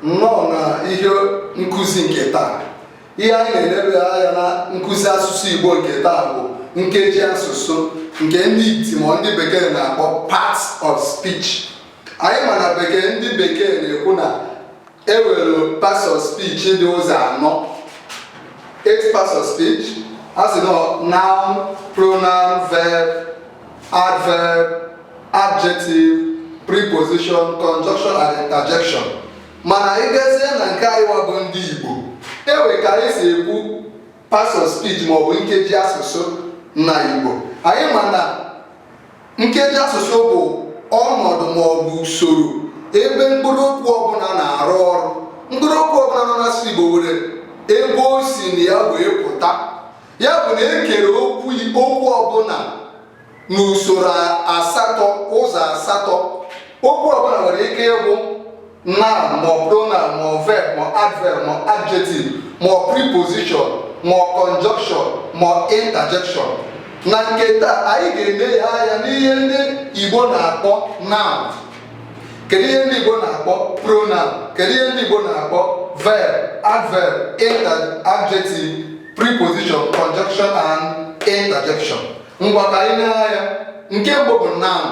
nnọọ na ihe nkụzi nke taa ihe anyị na-elebe anya na nkụzi asụsụ Igbo nke taa bụ nkeji asụsụ nke ndị iti ma ndị bekee na-akpọ parts of speech anyị ma na bekee ndị bekee na-ekwu na e were parts of speech dị ụzọ anọ eight parts of speech a sị na noun pronoun verb adverb adjective preposition conjunction and interjection mana ị gazie na nke anyị wa bụ ndị Igbo e wee ka anyị si ekwu parts of speech maọbụ nkeji asụsụ na Igbo anyị ma na nkeji asụsụ bụ ọnọdụ maọbụ usoro ebe mkpụrụ okwu ọbụla na-arụ ọrụ mkpụrụ okwu ọbụla nọ n'asụsụ Igbo nwere ebe o si na ya wee pụta ya bụ na e kere okwu okwu ọbụla n'usoro asatọ ụzọ asatọ okwu ọbụla nwere ike ịbụ noun ma ọ pronoun ma ọ verb ma adverb ma adjective ma ọ preposition ma ọ conjunction ma ọ interjection na nke taa anyị ga-elebe anya n'ihe ndị Igbo na-akpọ noun kedu ihe ndị Igbo na-akpọ pronoun kedu ihe ndị Igbo na-akpọ verb adverb inter adjective preposition conjunction and interjection ngwa ka anyị lee anya nke mbụ bụ noun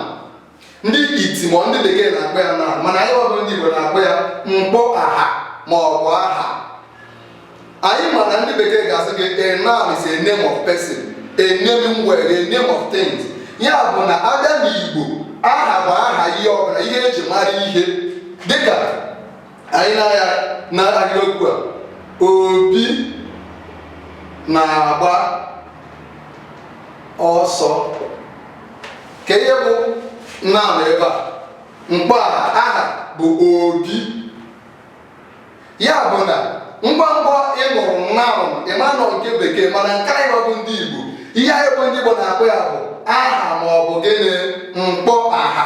ndị iti mọ ndị bekee na-akpọ ya noun mana anyị wa bụ ndị Igbo na-akpọ ya mkpọ aha ma ọ bụ aha anyị ma na ndị bekee ga-asị gị a noun is a name of person animal or name of things ya bụ na a bịa n'Igbo aha bụ aha ihe ọbụla ihe e ji mara ihe dịka anyị lee anya na ahịrịokwu a Obi na-agba ọsọ kee ihe bụ noun ebe a mkpọ aha bụ Obi ya bụ na ngwa ngwa ị nụrụ noun ị ma na ọ nke bekee mana nke anyị bụ ndị Igbo ihe anyị bụ ndị Igbo na-akpọ ya bụ aha ma ọ bụ gịnị mkpọ aha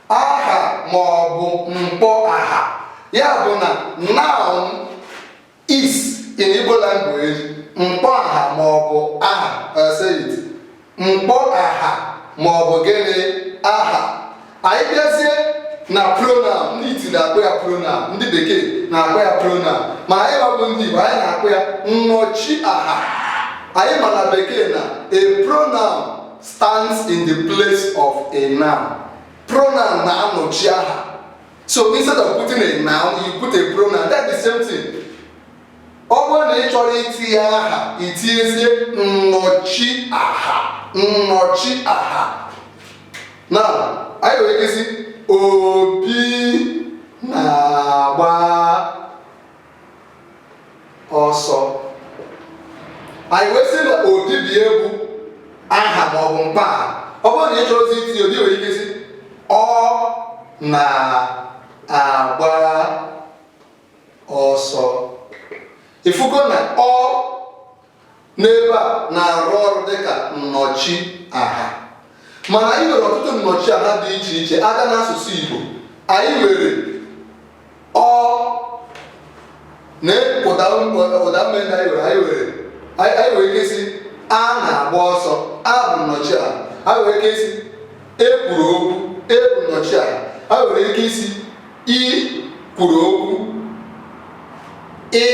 aha ma ọ bụ mkpọ aha ya bụ na noun is in Igbo language mkpọ aha ma ọ bụ aha uh, mkpọ aha ma ọ bụ gịnị aha anyị bịazie na pronoun ndị iti na-akpọ ya pronoun ndị bekee na-akpọ ya pronoun ma anyị wa bụ ndị Igbo anyị na-akpọ ya nnọchi aha anyị ma na bekee na a pronoun stands in the place of a noun pronoun na-anọchi aha so instead of putting a noun you put a pronoun that's the same thing ọ bụrụ na ị chọrọ itinye aha i tinyezie nnọchi aha nnọchi aha now anyị nwere ike ịsị obi na-agba ọsọ anyị wee sị na obi ebe a bụ aha ma ọ bụ mkpọaha ọ bụrụ na ị chọrọzi itinye obi i nwere ike ịsị ọ na-agba ọsọ ị fụgo na ọ n'ebe a na-arụ ọrụ dịka nnọchi aha mana anyị nwere ọtụtụ nnọchi aha dị iche iche a gaa n'asụsụ Igbo anyị nwere ọ na ụda ụda ume ndị anyị nwere anyị nwere anyị anyị nwere ike ịsị a na-agba ọsọ a bụ nnọchi aha anyị nwere ike ịsị e kwuru okwu e bụ nnọchi aha anyị nwere ike ịsị i kwuru okwu ị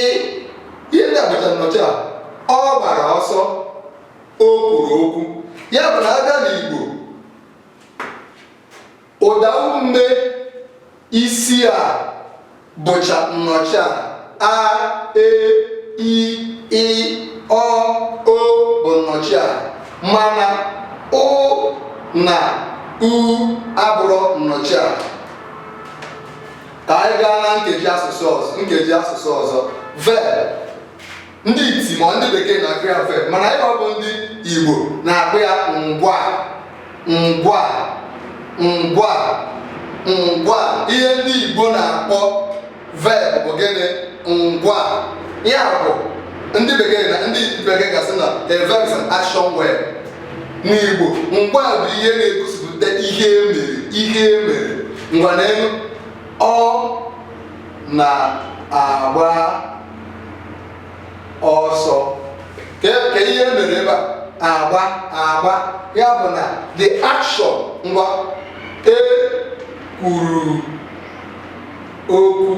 ihe ndị a bụcha nnọchi aha ọ gbara ọsọ o kwuru okwu ya bụ na a gaa n'igbo ụda ume isii a bụcha nnọchi aha a e i ị ọ o bụ nnọchi aha mana ụ na u abụrọ nnọchi aha ka anyị gaa na nkeji asụsụ ọzọ nkeji asụsụ ọzọ verb ndị iti ma ndị bekee na-akpọ ya verb mana anyịnwa bụ ndị igbo na-akpọ ya ngwaa ngwaa ngwaa ngwaa ihe ndị igbo na-akpọ verb bụ gịnị ngwaa ya bụ ndị bekee na ndị bekee ga-asị na a verb is an action word n'igbo ngwaa bụ ihe na-egosipụta ihe e mere ihe e mere ngwa neenụ ọ na-agba ọsọ kee ihe e mere ebe a agba agba ya bụ na the action ngwaa e kwuru okwu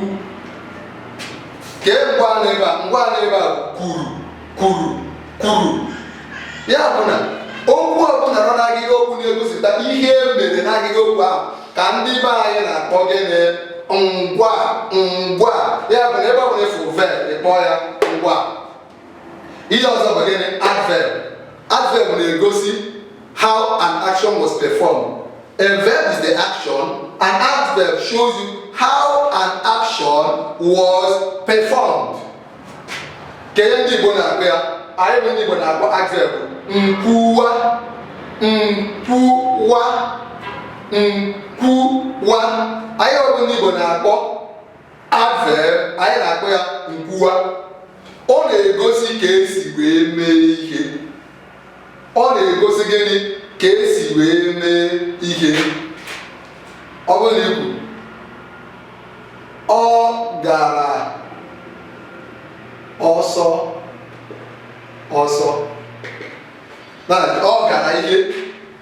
kee ngwaa n'ebe a ngwaa n'ebe a kwuru kwuru kwuru ya bụ na okwu ọbụla nọ n'ahịrị okwu na-egosipụta ihe e mere n'ahịrị okwu ahụ ka ndị be anyị na-akpọ gịnị ngwaa ngwaa ya bụ na ebe ọ bụla ị fụ verb ị kpọọ ya ngwaa ihe ọzọ bụ gịnị adverb adverb na-egosi how an action was performed a verb is the action an adverb shows you how an action was performed kedu ndị Igbo na-akpọ ya anyị bụ ndị Igbo na-akpọ adverb nkwuwa nkwuwa nkwuwa anyị bụ ndị Igbo na-akpọ adverb anyị na-akpọ ya nkwuwa ọ na-egosi ka esi wee mee ihe ọ na-egosi gịnị ka esi wee mee ihe ọ bụrụ na i kwuo ọ gara ọsọ ọsọ ọ gara ihe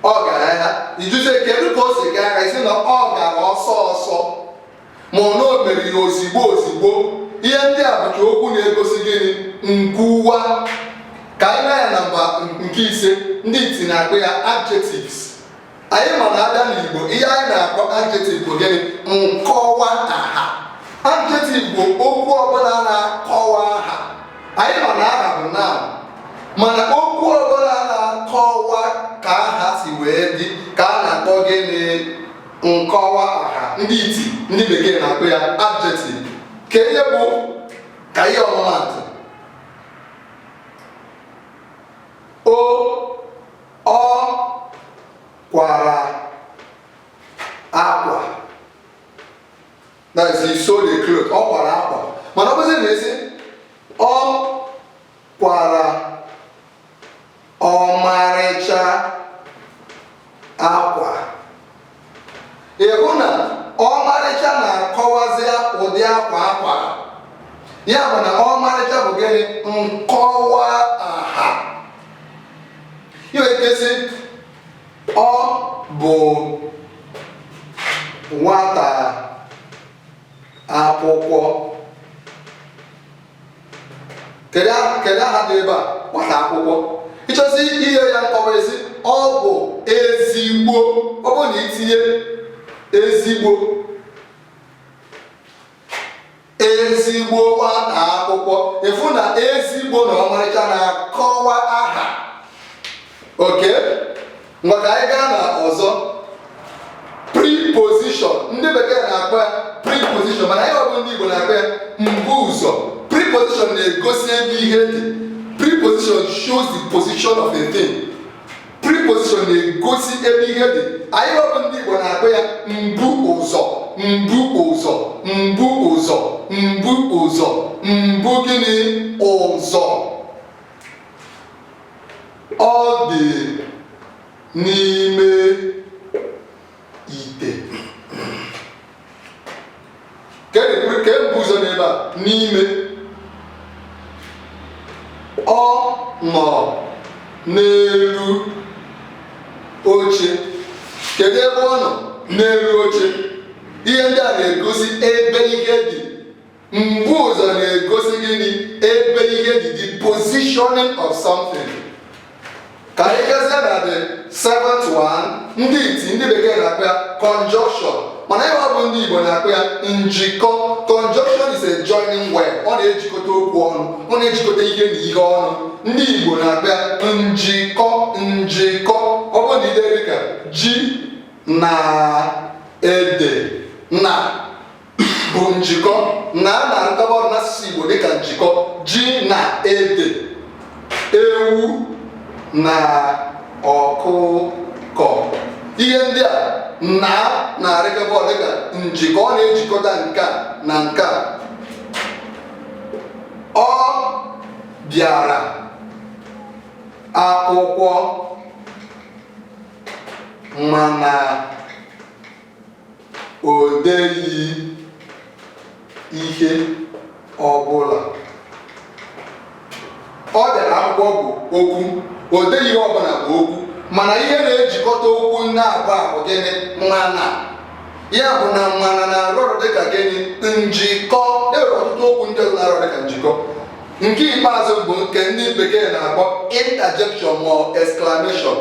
ọ gara ya ị jụzie kedu ka o si gaa ị sị na ọ gara ọsọ ọsọ ma ọ bụ o mere ya ozigbo ozigbo ihe ndị a bụcha okwu na-egosi gịnị nkwuwa ka anyị lee anya nọmba nke ise ndị iti na-akpọ ya adjectives anyị ma na a bịa n'igbo ihe anyị na-akpọ adjective bụ gịnị nkọwa aha adjective bụ okwu ọbụla na-akọwa aha anyị ma na aha bụ noun mana okwu ọbụla na-akọwa ka aha si wee dị ka a na-akpọ gịnị nkọwa aha ndị iti ndị bekee na-akpọ ya adjective ka ihe bụ ka e nye ọmụmaatụ o ọ kwara akwa that is he sewed a cloth ọ kwara akwa mana ọ bụzi na ị sị ọ kwara ọmarịcha akwa ị hụ na ọmarịcha na-akọwazi ụdị akwa a kwara ya bụ na ọmarịcha bụ gịnị nkọwa aha i nwee ike ịsị ọ bụ nwata akwụkwọ kedu aha dị ebe a nwata akwụkwọ ị chọzie inye ya nkọwa ị sị ọ bụ ezigbo ọ bụ na i tinye ezigbo ezigbo nwata akwụkwọ ị fụ na ezigbo na ọmarịcha na-akọwa aha okay ngwa ka anyị gaa na ọzọ preposition ndị bekee na-akpọ ya preposition mana anyịwa bụ ndị Igbo na-akpọ ya mbu ụzọ preposition na-egosi ebe ihe dị preposition shows the position of a thing preposition na-egosi ebe ihe dị anyịwa bụ ndị Igbo na-akpọ ya mbu ụzọ mbu ụzọ mbu ụzọ mbu ụzọ mbu gịnị ụzọ Ọ dị n'ime ite. Kee mbu ụzọ n'ebe a n'ime. Ọ nọ n'elu oche. Kedu ebe ọ nọ? N'elu oche. Ihe ndị a na-egosi ebe ihe dị mbu ụzọ na-egosi gịnị ebe ihe dị the positioning of something ka anyị gazie na the seventh one ndị iti ndị bekee na-akpọ ya conjunction mana anyịwa bụ ndị igbo na-akpọ ya njikọ conjunction is a joining word ọ na-ejikọta okwu ọnụ ọ na-ejikọta ihe na ihe ọnụ ndị igbo na-akpọ ya njikọ njikọ ọ bụrụ na i dee dịka ji na ede na bụ njikọ na a na-arụkọba ọrụ n'asụsụ Igbo dịka njikọ ji na ede ewu na ọkụkọ ihe ndị a na a na-arụkọba ọrụ dịka njikọ ọ na-ejikọta nke a na nke a ọ bịara akwụkwọ mana o deghị ihe ọbụla ọ bịara akwụkwọ bụ okwu o deghị ihe ọbụla bụ okwu mana ihe na-ejikọta okwu naabọ a bụ gịnị mana ya bụ na mana na-arụ ọrụ dịka gịnị njikọ e nwere ọtụtụ okwu ndị ọzọ na-arụ dịka njikọ nke ikpeazụ bụ nke ndị bekee na-akpọ interjection or exclamation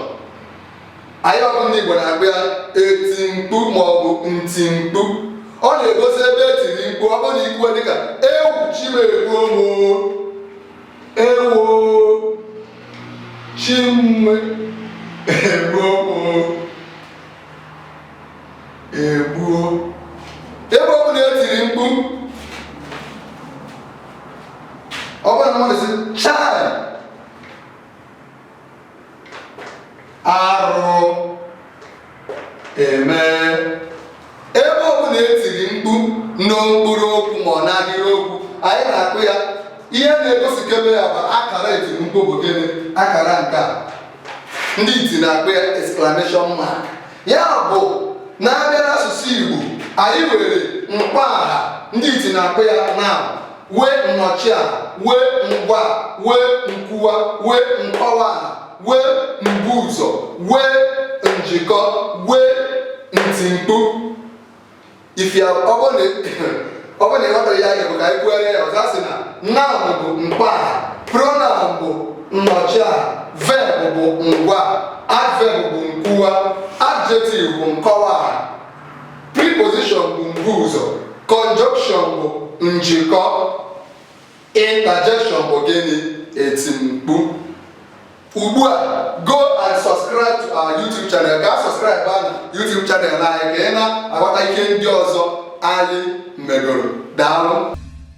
anyịwa bụ ndị Igbo na-akpọ ya iti mkpu ma ọ bụ nti mkpu ọ na-egosi ebe e tiri mkpu ọ bụrụ na i kwuo dịka ewo chi m egbuo m ewo chi m egbuo m egbuo ebe ọ bụla e tiri mkpu ọ bụrụ na mmadụ sị chai arụ eme ebe ọbụla etiri mkpu na mkpụrụ okwu ma ọ n'ahịrị okwu anyị na-akpọ ya ihe na-egosikebe ya bụ akara etiri mkpu bụ gịnị akara nke a ndị iti na-akpọ ya exclamation mark ya bụ na a bịa n'asụsụ Igbo anyị nwere mkpọaha ndị iti na-akpọ ya noun nwee nnọchiaha nwee ngwaa nwee nkwuwa nwee nkọwaaha nwee mbuụzọ nwee njikọ nwee ntimkpu ife a ọ bụrụ na ọ bụrụ na ị ghọtara ya anya bụ ka anyị kwuere ya ọzọ a sị na noun bụ mkpọaha pronoun bụ nnọchiaha verb bụ ngwaa adverb bụ nkwuwa adjective bụ nkọwaaha preposition bụ mbuụzọ conjunction bụ njikọ interjection bụ gịnị ntimkpu ugbu a go and subscribe to our YouTube channel gaa subscribe na YouTube channel anyị ka ị na-aghọta ihe ndị ọzọ anyị megoro daalụ